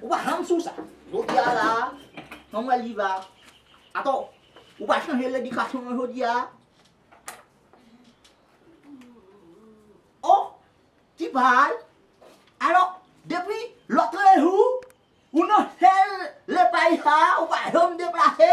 Ou pa janm sou sa. Jodi a la a, Samuel li va. Atò, ou pa chanje ledikasyon an jodi a. O, ti pal. Alò, depi lotrejou, ou nan sèl lepay sa a, ou pa janm deplase.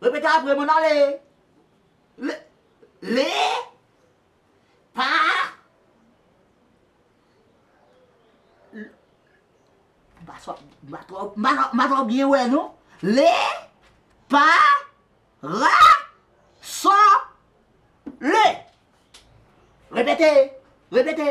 Repete apre mwen nan le. Le. Le. Pa. Mpa twò mpa twò mpa twò byen wè non. Le. Pa. Ra. Sò. Le. Repete. Repete.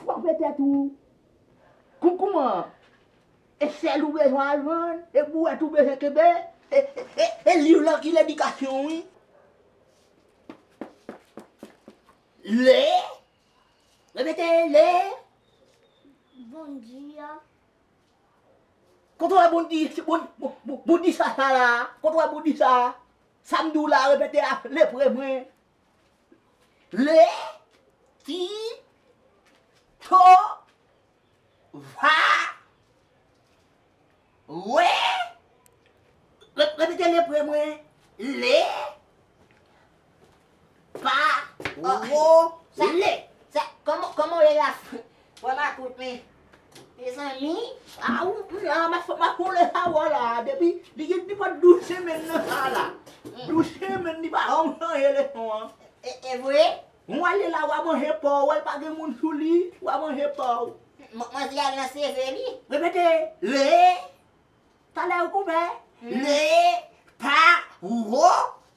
Fwape tèt ou. Kou kouman? E sèl ou bezwen al vann? E bouwèt ou bezwen kenbe? E liv lan ki ledikasyon wi. Le! Repete, le! Bondi a. Kote w wè bondi? Bondi sa sa la? Kote w wè bondi sa? Sa m di w la, repete ap lepre mwen. Le, ki, to, va, we, repete le pre mwen, le, pa, ro, sa, le. Sa, koman, koman ou ye la, Fwa makout men mezanmi aww la ma fwa makout le sa wè la depi li gen nenpòt 12 semen nan sa la 12 semen li pa janm chanje le son an evre ou ale la wa manje paw wèl pa gen moun sou li wa manje paw manzè al nan seve li repete le talè ou konpè le pa wou.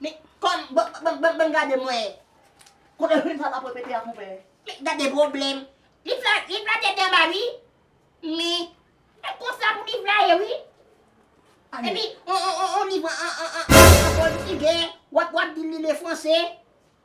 Men kòm bon bon gade mwen. Kote Hun sa tap repete a konpè. Men gade pwoblèm. Li fla tèt anba ui. Men e konsa pou li fla ye ui. Epi on liv an pòtigè wap di li le fransè.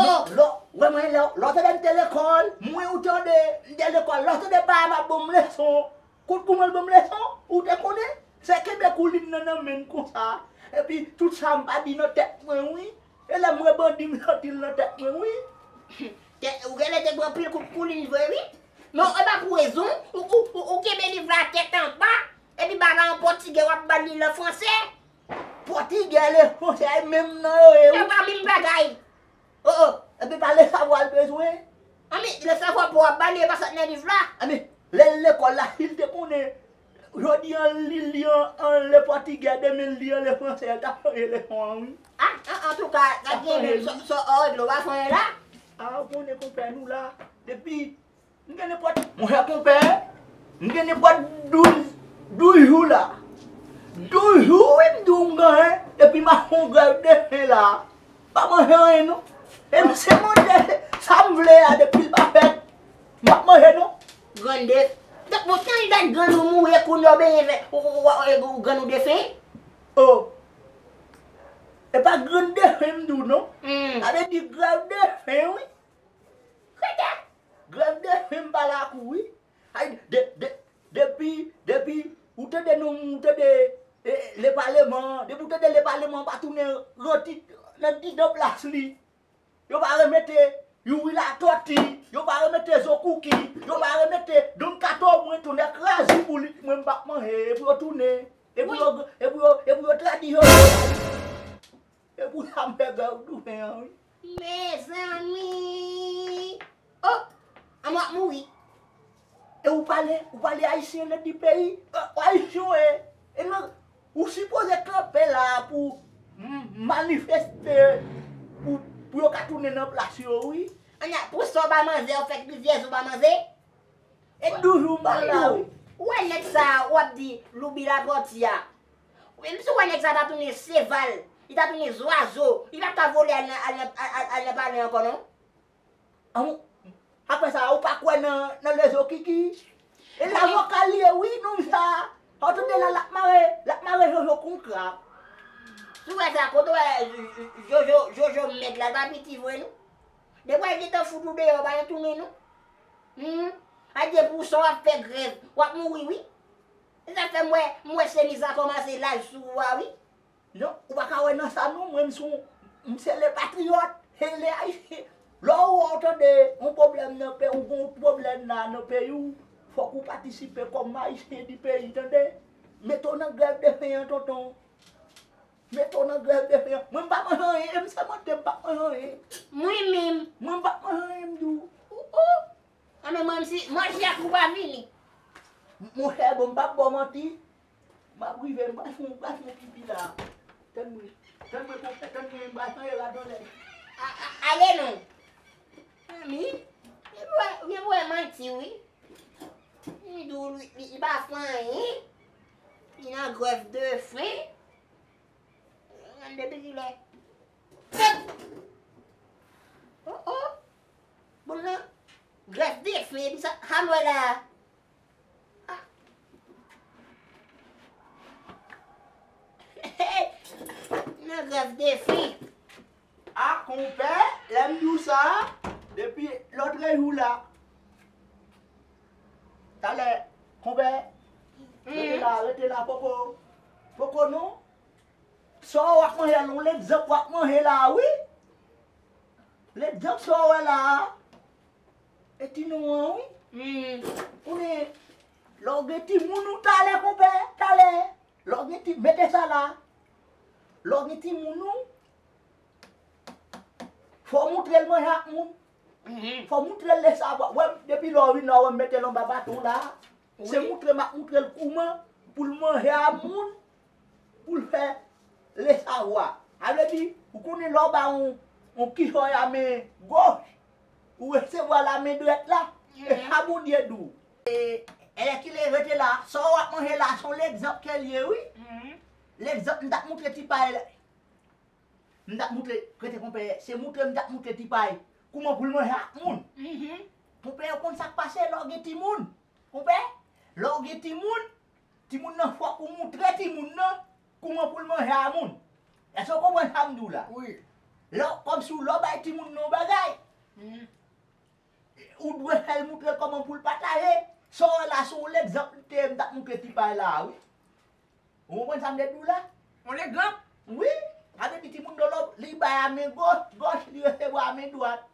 Oh lò wè mwen lè w tande m te lekòl mwen ou tande m te lekòl lè w tande papa m ap ban m leson kout pou mwen l ban m leson ou te konnen se kenbe koulin nan nan men m konsa epi tout sa m pa di nan tèt mwen wi e lè m wè bandi m sòti l nan tèt mwen wi. Humm, ou genlè te pran pil kout koulin vre wi. Men w epa pou rezon, ou kenbe liv la tèt anba, epi ba la an pòtigè w ap ba l li l an fransè. Pòtigè le fransè a menm nan yo ye wi. Epa minm bagay. Oh oh epi pa le savwa l bezwen. Anmey le savwa po a ba li epa sa k nan liv la. Anmey le l lekòl la si l te konnen jodi an li li an le pòtigè demen li an le fransè l tap chanje leson an wi. Ah antouka sa k genyen menm sa w regle w pa konnen la. Ah ou konnen konpè nou la depi. M gen nenpòt, monchè konpè, m gen nenpòt douz, douz jou la. Douz jou wi m di w m genyen, epi m ap fè yon grèv de fen la a. M pa manje anyen non. E m se manje sa m vle a depi l pa fèt, m pa p manje non. Grann de, donk pou tan dat grann ou mouri e kounye a w benyen vè, ou grann ou de fen? O! E pa grann de fen m di w non. Sa vle di grèv de fen wi. Krèkè! Grèv de fim pa lakou wi. Hay de de depi depi ou tande non ou tande e le paleman an, depi ou tande le paleman an pa tounen ranti nan didan plas li, yo pa remete Youri Latòti, yo pa remete Zo Kouki, yo pa remete Don Kato mwen tounen kraze pou li mwen m pa k manyen e pou yo tounen e pou yo e pou yo e pou yo tradi yo yo. E pou sa m fè bè w tounen an wi. Mezanmi oh a mwen ap mouri. E ou pale ou pale ayisyen nan di peyi ou ayisyen ou ye e nan ou sipoze kanpe la pou manifeste pou yo ka tounen nan plas yo wi. Ana pou sa w bay manzè ou fè rivyèz ou bay manze. E toujou m pa la wi. Ou wè nèg sa ou ap di Loubi Lapòti a Menm si w wè nèg sa ta tounen seval, li ta tounen zwazo, li pa t ka vole al nan palè ankò non. Anmww Aprè sa ou pa kwè nan lezo kiki E la vokal li ye wi nonm sa Ou tande la lap mare lap mare jojo kon krab. Sou wè sa kote w wè jojo jojo mèg la l pa piti vre non Depi wè l gentan fout ou deyò pa gen tounen non Humm Adye pou w san w ap fè grèv w ap mouri wi. Nap fèm wè, m wè chemiz la kòmanse laj sou ou a wi. Non, ou pa ka wè nan sa non, mwen m son, m se le patriyòt, e le ayisyen. Lè ou wè ou tande yon pwoblèm nan peyi, ou gen yon pwoblèm la nan peyi ou, fòk ou patisipe kòm ayisyen di peyi tande. Mete w nan grèv de fen an tonton. Mete w nan grèv de fen an. Mwen m pa manje anyen, e m sèmante m pap manje anyen. Mwen menm. Mwen m pap manje anyen m di w. Ou ou. An men manti, manti a twou pa fini. Monchè bon m pap baw manti, map rive m pral fon m pral fon pipi la. Tann mwen, tann mwen konpè, tann mwen m pral chanje rad yon lè. A a ale non. Mezanmi, gen pou wè, gen pou wè manti wi. Li dou li, li pa fon anyen. Li nan grèf de fen. An depi kilè. Tann! O o! Boul nan grèf bèf li epi sa ha m wè la a. Nan grèf bèf li. A konpè, lè m di w sa a, depi lotre jou la. Talè, konpè, rete la, rete la poko. Poko non. Sa w ap manje a, yon lèt zèb w ap manje la a wi. Lèt djanm sa w wè la a, e ti non an wi. Konnen, lè w gen timoun ou talè konpè, talè, lè w gen ti, mete sa la, lè w gen timoun ou, fò w moutre l manje ak moun, fò w moutre l lè sa, wè m, depi lè w vin la, wè m mete l anba baton la, Se moutre map moutrel kouman poul manje a moun poul fè le savwa. Sa vle di ou konnen lè w ba yon yon kichòy a men goch ou resevwa l a men drèt la e sa Bondye di w. Èlèkile rete la, sa w ap manje la son legzanp ke l ye wi. Legzanp m tap moutre ti pay la. M tap moutre kreten konpè se moutre m tap moutre tipay kouman pou l manje ak moun konpè yo konn sak pase lè w gen timoun konpè lè w gen timoun timoun nan fòk ou moutre timoun nan kouman pou l manje a moun èske w konprann sa m di w la lè w kòmsi w lè w bay timoun nan yon bagay ou dwe fè l moutre kòman pou l pataje sa w wè la se yon lègzanp m te ye m tap moutre tipay la a wi. Ou konprann sa m de di w la? On egzanp? Wi! A vle di timoun dolo li bay a men goch, li resevwa a men dwat.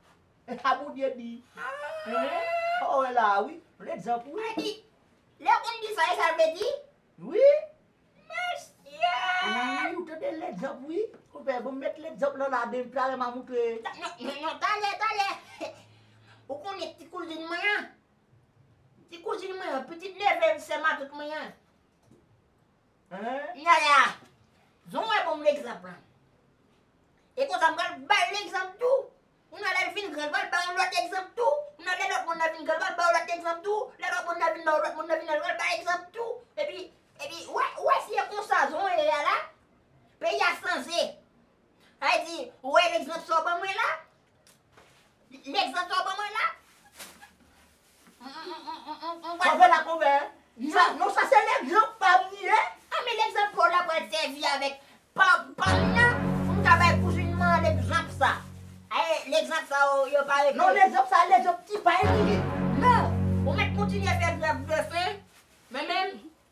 E sa Bondye di. Aah! Ou wè la a wi. On egzanp wi. Sa di, lè w konn di sa, e sa l vle di? Wi! Mesye! Wi, ou tande legzanp wi. Konpè, ban m met legzanp lan la den, talè m a moutre. Non, non, talè, talè. Ou konnen ti kouzin mwen an? Ti kouzin mwen an, pitit neve sè matant mwen an. Nana, jan w wè bon m legzanp lan, e konsa m pral ba l legzanp tou. Nana, lè l vin gran, l pral ba w lòt egzanp tou. Nana, lè lòt moun nan vin gran, l pral ba w lòt egzanp tou. Lè lòt moun nan vin ba w, lòt moun nan vin gran, l pral ba l egzanp tou. Epi, epi, w wè, w wè si e konsa jan w ye a la, peyi a chanje. Sa vle di, w wè legzanp sa w ban mwen la? Nèg zantò ban mwen la. Kòve la kòve. Non sa se nèg yon pam li ye. A men nèg zantò la pral sèvi avèk pam nan pou m ta bay kouzin mwen an legzanp sa. Ae legzanp sa yo pa rete. Non legzanp sa legzanp ti pay li ye. Non ou mèt kontinye fè grèv de fen men menm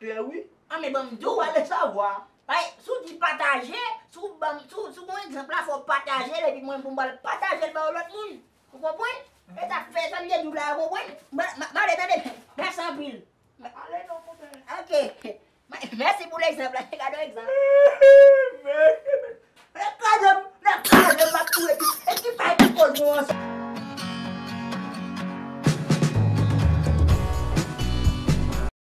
Klè wi. An men banm di w ale savwa. Bay si w di pataje si w banm si w si w gon egzanp la fò w pataje l epi mwen pou m al pataje l ba yon lòt moun ou konprann e sa k fè sa m te di w la ou konprann m ale tande mèsi anpil m ale non konpè ok mèsi pou l egzanp la gade yon egzanp mèsi nèg kraze m nèg kraze m m ap kouri e ki pa e ki koz nou ansanm.